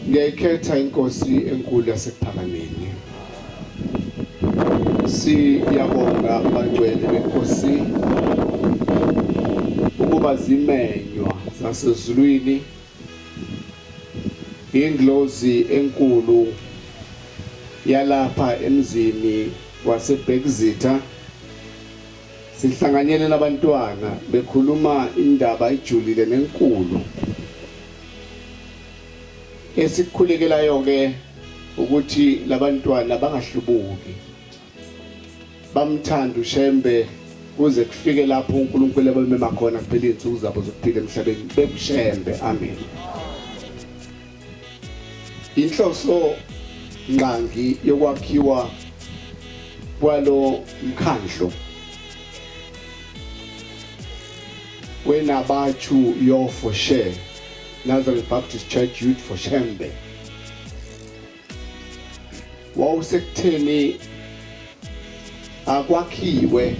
Ngiyayikhetha inkosi enkulu yasekuphakameni. Siyabonga abangcwele benkosi ukuba zimenywa zasezulwini ingilozi enkulu yalapha emzini wasebhekizitha Sihlanganyele nabantwana bekhuluma indaba ejulile nenkulu. Esikhulekelayo ke ukuthi labantwana bangahlubuki. Bamthanda uShembe kuze kufike lapho uNkulunkulu abamema khona kuphela izinsuku zabo zokuphila emhlabeni bekushembe amen Inhloso ngqangi yokwakhiwa kwalo mkhandlo wenabathu yo for share Nazareth Baptist Church Youth for Shembe wawusekutheni akwakhiwe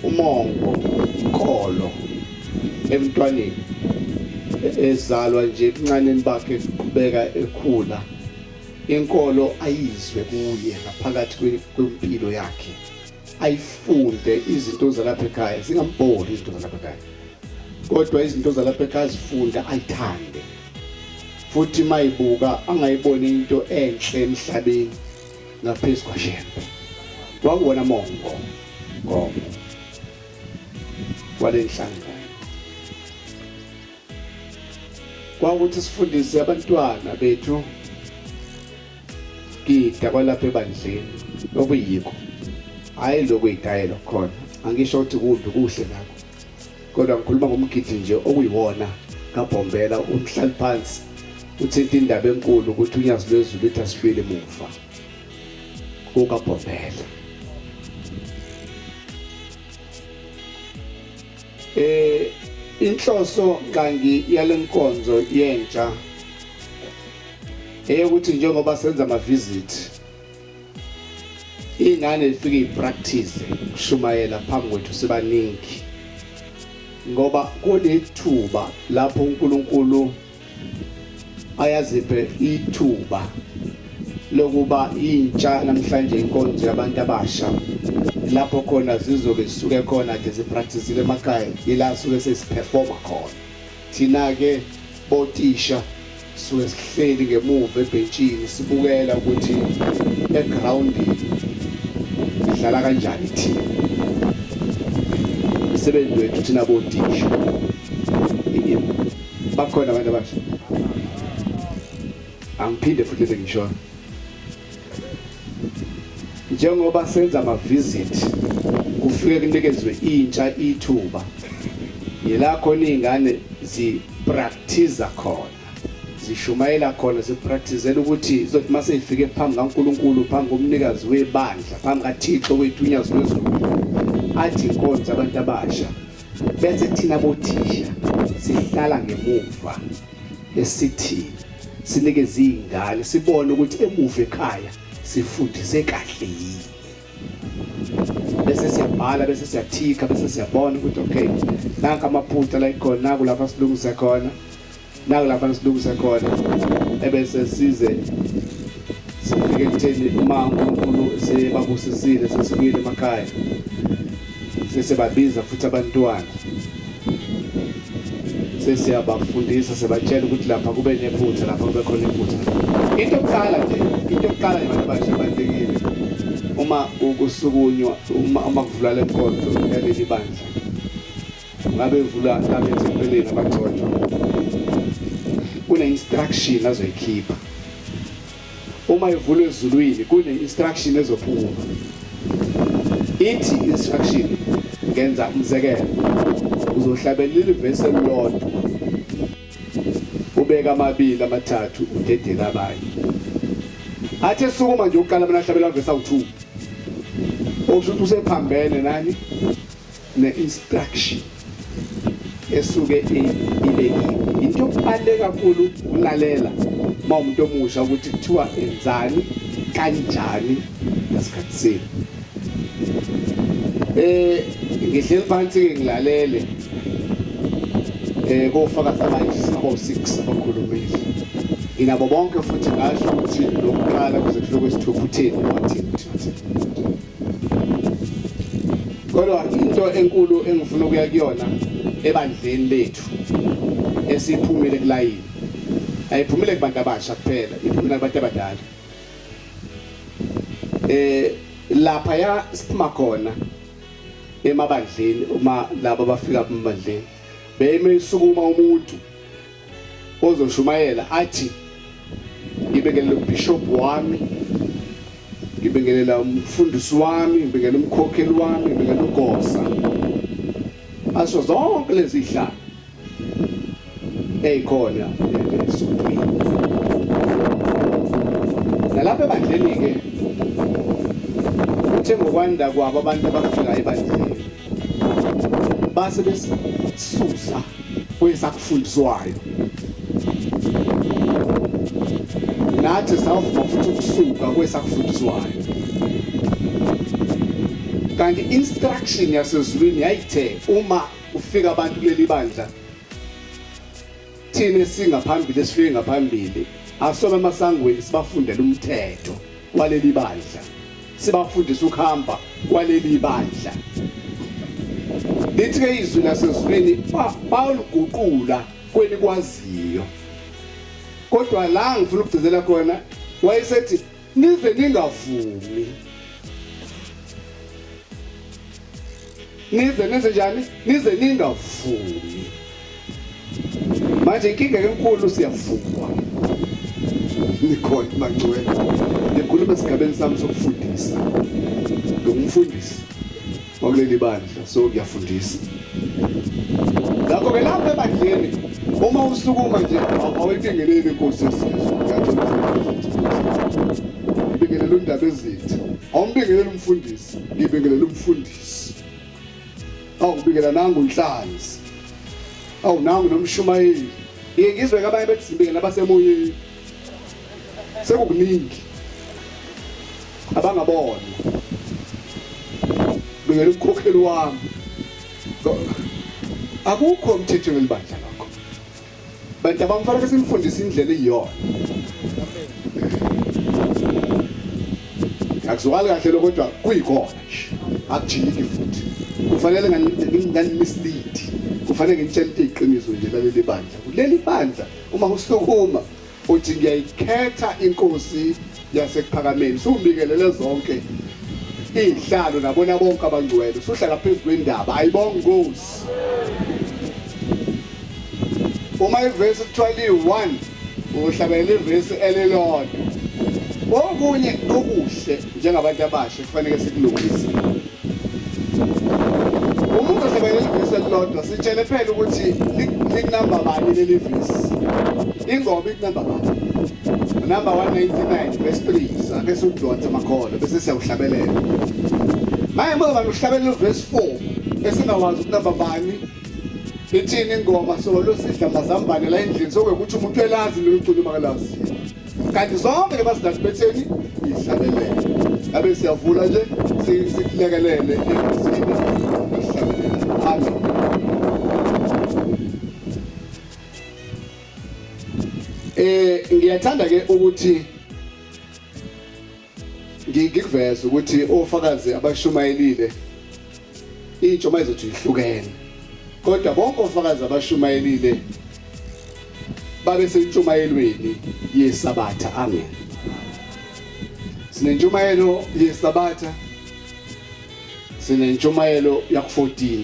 umongo inkolo emntwaneni ezalwa nje ebuncaneni bakhe kuqhubeka ekhula inkolo ayizwe kuye ngaphakathi kwempilo yakhe ayifunde izinto zalapha ekhaya zingambhori izinto zalapha ekhaya kodwa izinto zalapha ekhaya zifunda ayithande futhi mayibuka angayiboni into enhle emhlabeni ngaphezu kwaShembe wakuwona mongo ngomo walenhlanga kwawukuthi sifundise abantwana bethu gida kwalapha ebandleni okuyikho hhayi lokuyitayela khona angisho ukuthi kumbi kuhle ngakho kodwa ngikhuluma ngomgidi nje okuyiwona kabhombela umhlali phansi uthinta indaba enkulu ukuthi unyazi lwezulu ithi asibili muva kukabhombela eh inhloso kangi yalenkonzo yentsha eyokuthi njengoba senza ama visit ingane ifike ipractice ukushumayela phambi kwethu sibaningi ngoba kunethuba lapho uNkulunkulu ayaziphe ithuba lokuba intsha namhlanje inkonzo yabantu abasha lapho khona zizobe zisuke khona ke zipracticile emakhaya ila suke sesiperforma khona Thina-ke botisha suke sihleli ngemuva ebhentshini sibukela ukuthi egrawundini sidlala kanjani thina. Umsebenzi wethu thina botisha bakhona abantu abasha angiphinde futhi lengishoyo njengoba senza amavisit kufike kunikezwe intsha ithuba yila khona iy'ngane ziprakthiza khona zishumayela khona zipraktizela ukuthi zothi uma seyifike phambi kankulunkulu phambi komnikazi webandla phambi kathixo wethu unyazilwezulu athi inkonzo abantu abasha bese thina bothisha sihlala ngemuva esithi sinikeze izingane sibone ukuthi emuva ekhaya sifundise kahle yini bese siyabhala bese siyathika bese siyabona ukuthi okay nanka amaphutha la ikhona kulapha silungise khona naku lapha nisilungise khona ebese size sifike ekutheni uma uNkulunkulu sebabusisile sesibuyile emakhaya sesebabiza futhi abantwana sesiyabafundisa sebatshela ukuthi lapha kube nephutha lapha kube khona iphutha into yokuqala nje into yokuqala abantu abasha abalulekile uma ukusukunywa uma kuvula le nkonzo yaleli bandla ngabe evula ngabe ezipheleni abagcotshwa kune-instruction azoyikhipha uma evula ezulwini kune-instruction ezophuma ithi instruction ngenza umzekelo uzohlabelela ilivesi elilodwa ubeka amabili amathathu udedele abanye athi esukuma nje ukuqala mina ahlabela vesi awu-two okusho ukuthi usephambene nani ne-instruction esuke ibekiwe into yokubaluleke kakhulu ukulalela uma umuntu omusha ukuthi kuthiwa enzani kanjani ngasikhathi senu eh ngihleli phansi ke ngilalele eh kofakazi abanje sabo 6 abakhulumile inabo bonke futhi ngasho ukuthi lokuqala kuze kufike kwesithupha uthini wathi kodwa into enkulu engifuna ukuya kuyona ebandleni lethu esiphumile kulayini ayiphumile kubantu abasha kuphela iphumile kubantu abadala eh lapha ya siphuma khona emabandleni uma labo bafika emabandleni beyime isukuma umuntu ozoshumayela athi ngibingelela ubishop wami ngibingelela umfundisi wami ngibingelela umkhokheli wami ngibingelela ugosa asho zonke lezi hlanga eyikhona esuntwini nalapha ebandleni-ke uthe ngokwanda kwabo abantu abafikayo ebandleni base besisusa kwezakufundiswayo nathi sawuvuma futhi ukusuka kwesakufundiswayo kanti instruction yasezulwini yayithe uma ufika abantu kuleli bandla thina esingaphambili esifike ngaphambili asona amasangweni sibafundela umthetho waleli bandla sibafundisa ukuhamba kwaleli bandla lithi-ke izwi lasezulwini baliguqula kwenikwaziyo kodwa la ngifuna ukugcizela khona wayesethi nize ningavumi nize nenze njani nize ningavumi manje inkinga enkulu siyavuma nikhona mangcwele ngikhuluma esigabeni sami sokufundisa ngumfundisi kwakuleli bandla so ngiyafundisa ngakho-ke lapha ebandleni uma usukuma nje awuyibingeleli inkosi yesizwe ngibingelela undaba ezithi awumbingeleli umfundisi ngibingelela umfundisi awubikela nangu unhlanzi awunangu nomshumayeli ngiyengizwe kabanye bethi sibingelela abasemoyeni sekukuningi abangabona ngeke ukhokheli wami akukho umthetho welibandla lokho bantu abamfanele simfundise indlela iyona akuzwakali kahle lokho kodwa kuyikona nje akujiki futhi kufanele nganimislead kufanele ngitshele iqiniso nje laleli bandla kuleli bandla Uma usukuma uthi ngiyayikhetha inkosi yasekuphakameni subikelele zonke izihlalo nabona bonke abangcwele suhlala phezu kwendaba ayibonga inkosi uma ivesi kuthiwa liyi-1 uhlabelela ivesi elilodwa okunye okuhle njengabantu abasha kufanele sikulungise Uma uzosebenzisa ivesi elilodwa sitshele phela ukuthi likunamba bani leli vesi. Ingoma ikunamba bani? Number 199 verse 3 sake sudonse makhono bese siyawuhlabelela. Manje ngoba uhlabelela uverse 4 esingawazi ukunamba bani ithini ingoma so losidla mazambane la endlini sokuthi umuntu elazi loluculo makalazi. kanti zonke lebasidadi betheni ihlalelele ngabe siyavula nje silekelele emzini eh ngiyathanda ke ukuthi ngikuveza ukuthi ofakazi abashumayelile intsha uma izothi ihlukene kodwa bonke ofakazi abashumayelile babe sentshumayelweni yesabatha amen sinentshumayelo yesabatha sinentshumayelo yaku-14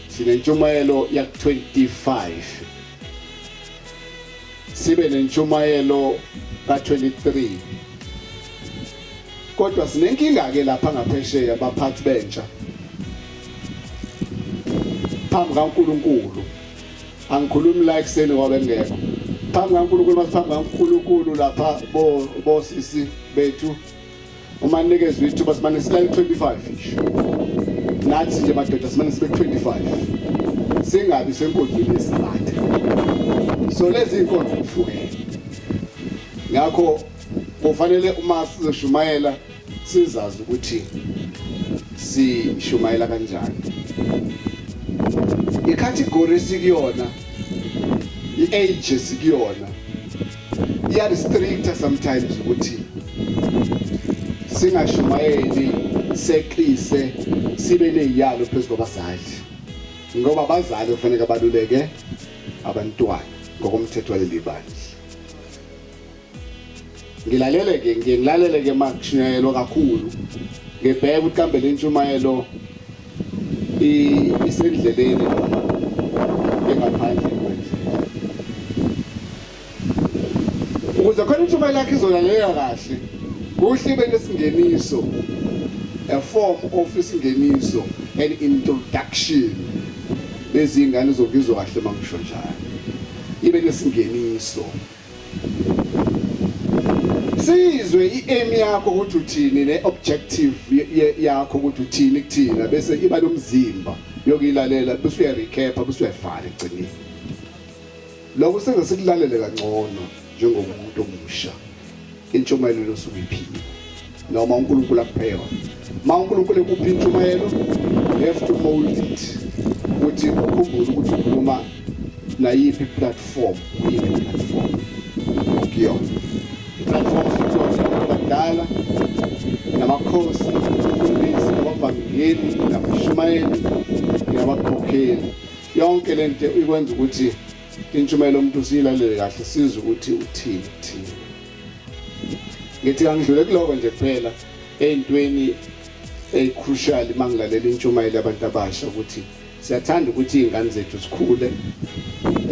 sinentshumayelo yaku-25 sibe nentshumayelo ka-23 kodwa sinenkinga-ke lapha ngaphesheya baphathi bentsha phambi kaNkulunkulu angikhulumi la ekuseni kwabengekho phambi kaNkulunkulu masiphambi kaNkulunkulu lapha bo bosisi bethu uma nikezwe ithuba simane silale 25 nathi nje madoda simane sibe 25 singabi senkonzweni yesabatha so lezi inkonzo kuhlukene ngakho kufanele uma sizoshumayela sizazi ukuthi sishumayela kanjani icategory sikuyona i-age sikuyona iya restricta sometimes ukuthi singashumayeli seqise sibe neziyalo phezu kwabazali ngoba abazali kufanele baluleke abantwana ngokomthetho waleli bandla ngilalele ke ngilalele ke makushunyayelwa kakhulu ngibheke ukuthi kambe lentshumayelo isendleleni noma engaphandle kwendlu ukuze khona intshumayelo yakhe izolaleleka kahle kuhle ibe nesingeniso a form of isingeniso an introduction lezi ngane zokuzwa kahle mangisho njalo ibe nesingeniso sizwe i-aim yakho ukuthi uthini ne-objective yakho ukuthi uthini kuthina bese iba nomzimba yokuyilalela bese uyarecapa bese uyavala egcineni lokho senze sikulalele kangcono njengomuntu omusha intshumayelo losuku iphile noma uNkulunkulu akuphe yona ma uNkulunkulu ekuphi intshumayelo you have to mold it ukuthi ukhumbule ukuthi ukhuluma nayiphi platform uyiphi platform okuyona platform abadala namakhosi abafundisi abavangeli nabashumayeli nabakhokheli yonke lento ikwenza ukuthi Intshumayelo umuntu usiyilalele kahle sizwe ukuthi uthini thini. Ngithi angidlule kuloko nje kuphela ey'ntweni ey'crucial uma ngilalela intshumayelo yabantu abasha ukuthi siyathanda ukuthi iy'ngane zethu zikhule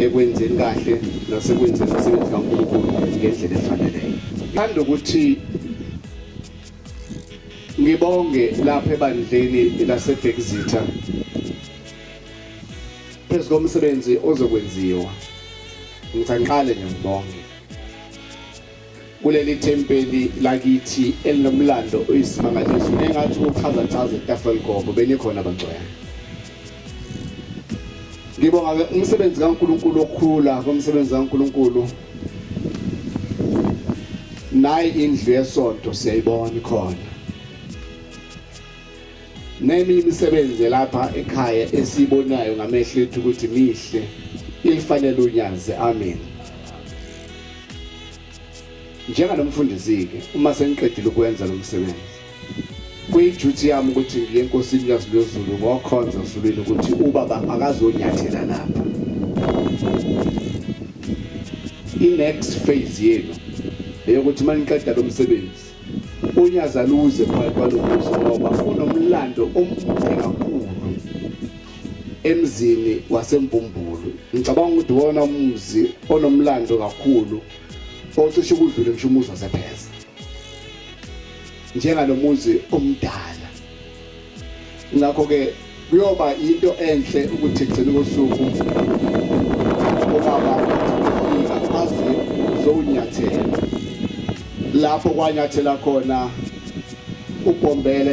ekwenzeni kahle nasekwenzeni umsebenzi kankulunkulu ngendlela efaneleyo thanda ukuthi ngibonge lapha ebandleni lasebhekizitha phezu komsebenzi ozokwenziwa ngithi angiqale nje ngibonge kuleli thempeli lakithi elinomlando oyisimangaliso nengathi uchaza chaza itafula ligobo benikhona abangcwele ngibonga ke umsebenzi kaNkuluNkulu okhula komsebenzi kaNkuluNkulu nayi indlu yesonto siyayibona ikhona Nemi imisebenzi lapha ekhaya esibonayo ngamehlo ethu ukuthi mihle ilifanele unyazi amen njenganomfundisi ke uma sengiqedile ukwenza lo msebenzi kuyiduty yami ukuthi ngiye enkosini kaZulu ngokhonza usulwini ukuthi ubaba akazonyathela lapha i-next phase yenu eyokuthi uma niqeda lo msebenzi Unyazi aluze phakathi kwalokuzo ngoba kunomlando omude kakhulu emzini wasembumbulu ngicabanga ukuthi wona umuzi onomlando kakhulu ocishe ukudlule ngisho umuzi wasepheza njengalomuzi omdala ngakho-ke kuyoba yinto enhle ukuthi gcina kosuku obaba fika azi zowunyathela lapho kwanyathela khona ubhombela